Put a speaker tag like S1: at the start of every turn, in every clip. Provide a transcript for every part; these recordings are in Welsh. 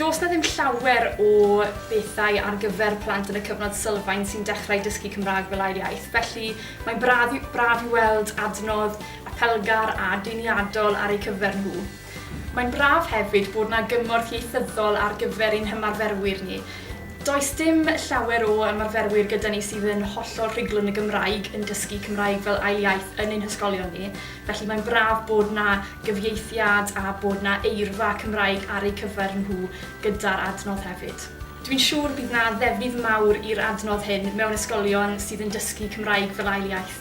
S1: Does 'na ddim llawer o bethau ar gyfer plant yn y cyfnod sylfaen sy'n dechrau dysgu Cymraeg fel ail iaith, felly mae'n braf, braf i weld adnodd apelgar a deniadol ar eu cyfer nhw. Mae'n braf hefyd bod 'na gymorth ieithyddol ar gyfer ein hymarferwyr ni. Does dim llawer o ymarferwyr gyda ni sydd yn hollol rhugl yn y Gymraeg yn dysgu Cymraeg fel ail iaith yn ein hysgolion ni, Felly mae'n braf bod 'na gyfieithiad a bod 'na eirfa Cymraeg ar eu cyfer nhw gyda'r adnodd hefyd. Dwi'n siŵr bydd 'na ddefnydd mawr i'r adnodd hyn mewn ysgolion sydd yn dysgu Cymraeg fel ail iaith.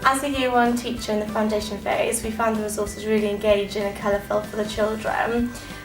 S1: As a year one teacher in the foundation phase, we found the resources really engaging and colourful for the children.